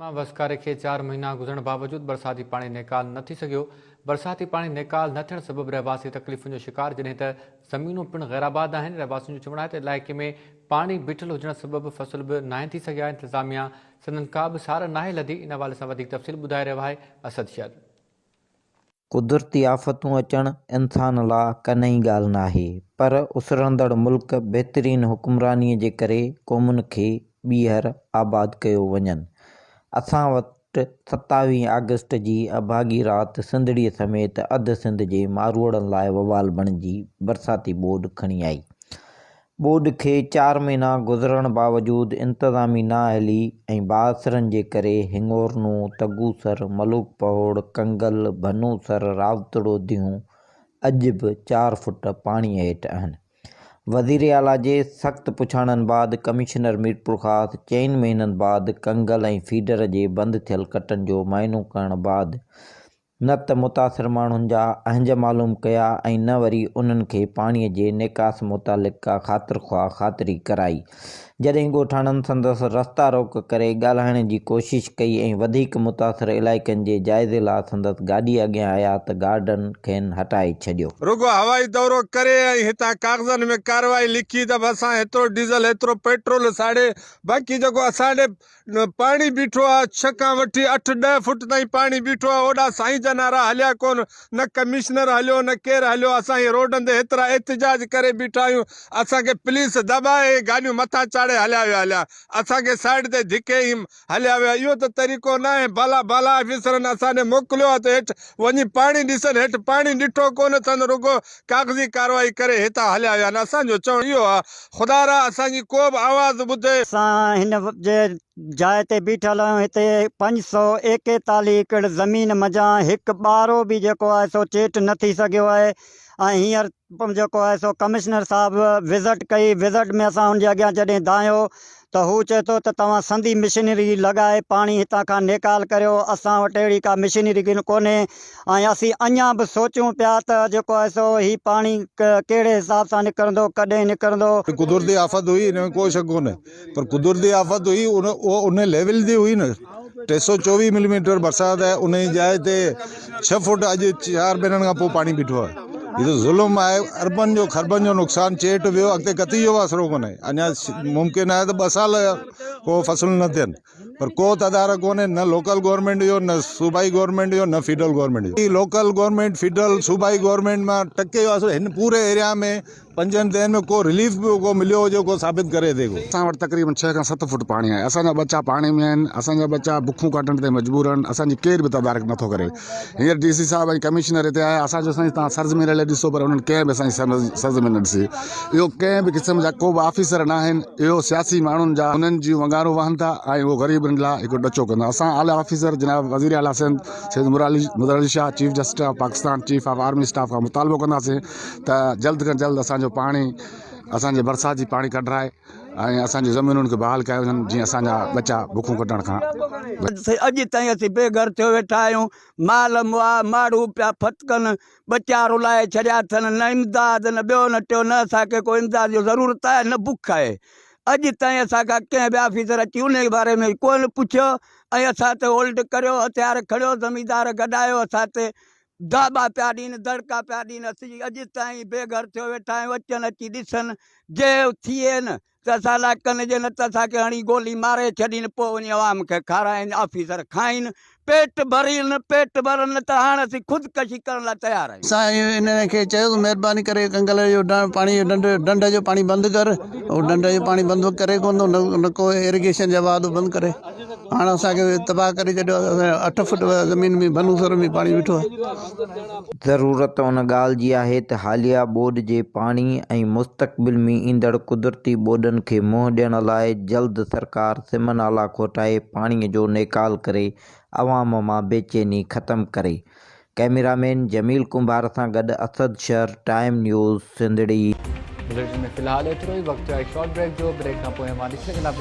مان وسڪاري کي چار مهينا گذرڻ باوجود برساتي پاڻي نيڪال نه ٿي سگهيو، برساتي پاڻي نيڪال نه ٿيڻ سبب رهواسي تڪليفن جو شڪار جڏهن ته زمينون پڻ غيرآباد آهن، رهواسين جو چوڻ آهي ته علائقي ۾ پاڻي بيٺل هجڻ سبب فصل به ناهن ٿي سگهيا، انتظاميا سندن ڪابه سار ناهي لڌي، ان حوالي سان وڌيڪ تفصيل ٻڌائي رهيو آهي اسد شر. قدرتي آفتون اچڻ انسان لا ڪا نئين ڳالهه ناهي پر اسرندڙ ملڪ بهترين حڪمراني جي ڪري قومن کي ٻيهر آباد ڪيو وڃن. اسان وٽ ستاويهه آگسٽ جي اڀاڳي رات سنڌڙي سميت اڌ سنڌ جي ماروئڙن لاء وبال بڻجي برساتي ٻوڏ کڻي آئي. ٻوڏ کي چار مهينا گذرڻ باوجود انتظامي نااهلي ۽ بااثرن جي ڪري هڱورنو، تگوسر، ملوڪ پهوڙ، ڪنگل، ڀنوسر، راوتڙو ديون اڄ به چار فوٽ پاڻي هيٺ آهن. وزير اعليٰ جي سخت پڇاڻن بعد ڪمشنر ميرپورخاص چئن مهينن بعد ڪنگل ۽ فيڊر جي بند ٿيل ڪٽن جو معائنو ڪرڻ بعد نه ته متاثر ماڻهن جا اهنج معلوم ڪيا ۽ نه وري انهن کي پاڻي جي نيڪاس متعلق ڪا خاطر خواهه خاطري ڪرائي. جڏهن ڳوٺاڻن سندس رستا روڪ ڪري ڳالهائڻ جي ڪوشش ڪئي ۽ وڌيڪ متاثر علائقن جي جائزي لا سندس گاڏي اڳيان آيا ته گارڊن کين هٽائي ڇڏيو. رڳو هوائي دورو ڪري ۽ هتان ڪاغذن ۾ ڪارروائي لکي ته به اسان هيترو ڊيزل هيترو پيٽرول ساڙي باقي جيڪو اسان ڏي پاڻي بيٺو آ، ڇهه کان وٺي اٺ ڏهه فوٽ تائين پاڻي بيٺو آ، هوڏا سائين جا نعرا هليا ڪون، نه ڪمشنر هليو نه ڪير هليو، اسان هي روڊن تي هيترا احتجاج ڪري بيٺا آهيون، اسان کي پوليس دٻائي هي گاڏيون مٿان چاڙهي هليا ويا هليا، اسان کي سائيڊ تي ڌڪي هيم هليا ويا، اهو ته طريقو ناهي، بالا بالا آفيسرن اسان ڏي موڪليو آ ته هيٺ وڃي پاڻي ڏسن، هيٺ پاڻي ڏٺو ڪون اٿن، رڳو ڪاغذي ڪارروائي ڪري هتان هليا ويا آهن اسان جو چوڻ اهو آهي خدا را اسان جي ڪو به آواز ٻڌي. اسان هن جي جاء تي بيٺل آهيون هتي پنج سؤ ايڪيتاليھ ايڪڙ زمين منجهان هڪ ٻارو به جيڪو آهي سو چيٽ نه ٿي سگهيو آهي ۽ هينئر جيڪو آهي سو ڪمشنر صاحب وزٽ ڪئي وزٽ ۾ اسان ان جي اڳيان جڏهن دانهيو ته هو چئي ٿو ته توهان سنڌي مشينري لڳائي پاڻي هتان کان نيڪال ڪريو، اسان وٽ اهڙي ڪا مشينري ڪونهي ۽ اسين اڃان به سوچون پيا ته جيڪو آهي سو هي پاڻي ڪهڙي حساب سان نڪرندو، ڪڏهن نڪرندو. هي قدرتي آفت هئي، هن ۾ ڪو شڪ ڪونهي پر قدرتي آفت هئي، اها ان ليول جي هئي نه. ٽي سؤ چوويهه ملي ميٽر برسات آهي ان جي جاء تي ڇهه فوٽ اڄ چار مهينن کان پوء پاڻي بيٺو آهي هي ته ظلم آهي اربن جو خربن جو نقصان چيٽ ويو اڳتي ڪتي جو آسرو ڪونهي اڃا ممڪن آهي ته ٻه سال ڪو فصل نه ٿين پر ڪو تدارڪ ڪونهي نه لوڪل گورنمنٽ جو نه صوبائي گورنمنٽ جو نه فيڊرل گورنمنٽ جو لوڪل گورنمنٽ فيڊرل صوبائي گورنمنٽ مان ٽڪي جو آسرو هن پوري ايريا ۾ پنجن ديهن ۾ ڪو رليف به ڪو مليو هجي ڪو ثابت ڪري ٿي ڪو. اسان وٽ تقريبن ڇهه کان ست فوٽ پاڻي آهي اسان جا ٻچا پاڻي ۾ آهن اسان جا ٻچا بکون ڪاٽڻ تي مجبور آهن اسان جي ڪير به تدارڪ نٿو ڪري هينئر ڊي سي صاحب ۽ ڪمشنر هتي آيا اسان چيو سائين توهان سرزمين رلي ڏسو پر انهن ڪنهن به اسان جي سرزمين نه ڏسي اهو ڪنهن به قسم جا ڪو به آفيسر ناهن اهو سياسي ماڻهن جا انهن جون ونگارون وهن ٿا ۽ اهو غريبن لاء هڪ ڏچو ڪندا اسان اعليٰ آفيسر جناب وزير اعليٰ Sindh Syed Murad Ali Shah chief justice of Pakistan chief of army staff کان مطالبو ڪنداسين ته جلد کان جلد اسان جو پاڻي اسان جي برسات جي پاڻي ڪڍرائي ۽ اسان جي زمينن کي بحال ڪيا وڃن جيئن اسان جا ٻچا بکون ڪٽڻ کان بچن. اڄ تائين اسين بي گهر ٿيو ويٺا آهيون، مال مئا ماڻهو پيا ڦٿڪن، ٻچا رلائي ڇڏيا اٿن، نه امداد نه ٻيو نه ٽيو، نه اسان کي ڪو امداد جو ضرورت آهي نه بک آهي، اڄ تائين اسان کان ڪنهن به آفيسر اچي انهي باري ۾ ڪونه پڇيو ۽ اسان تي هولڊ ڪريو، هٿيار کڻيو، زميندار گڏايو اسان تي داٻا پيا ڏين، دڙڪا پيا ڏين، اسين اڄ تائين بي گهر ٿيو ويٺا آهيون، اچن اچي ڏسن، جي اٿين ته اسان لاء ڪن ڏين نه ته اسان کي هڻي گولي ماري ڇڏين، پوء وڃي عوام کي کارائين، آفيسر کائين، پيٽ ڀرين، پيٽ ڀرن نه ته هاڻ اسين خودڪشي ڪرڻ لاء تيار آهيون. اسان انهن کي چيس، مهرباني ڪري ڪنگل اهو پاڻي جو ڍنڍ ڍنڍ جو پاڻي بند ڪر، اهو ڍنڍ جو پاڻي بند ڪري ڪونه ٿو نه ڪو ايريگيشن جا واهه ڏو بند ڪري. هاڻ اسان کي تباهه ڪري ڇڏيو آهي، اسان جي اٺ فوٽ زمين ۾ ڀنو سر ۾ پاڻي بيٺو آهي. ضرورت ان ڳالهه جي آهي ته حاليه ٻوڏ جي پاڻي ۽ مستقبل ۾ ايندڙ قدرتي ٻوڏن کي منهن ڏيڻ لاء جلد سرڪار سم نالا کوٽائي پاڻي جو نيڪال ڪري عوام مان بيچيني ختم ڪري. ڪئميرا مين جميل ڪنڀار سان گڏ اسد شر ٽائيم نيوز سنڌڙي. بليٽن ۾ في الحال ايترو ئي وقت آهي شارٽ بريڪ جو، بريڪ کان پوء اوهان ڏسي سگهندا پرو.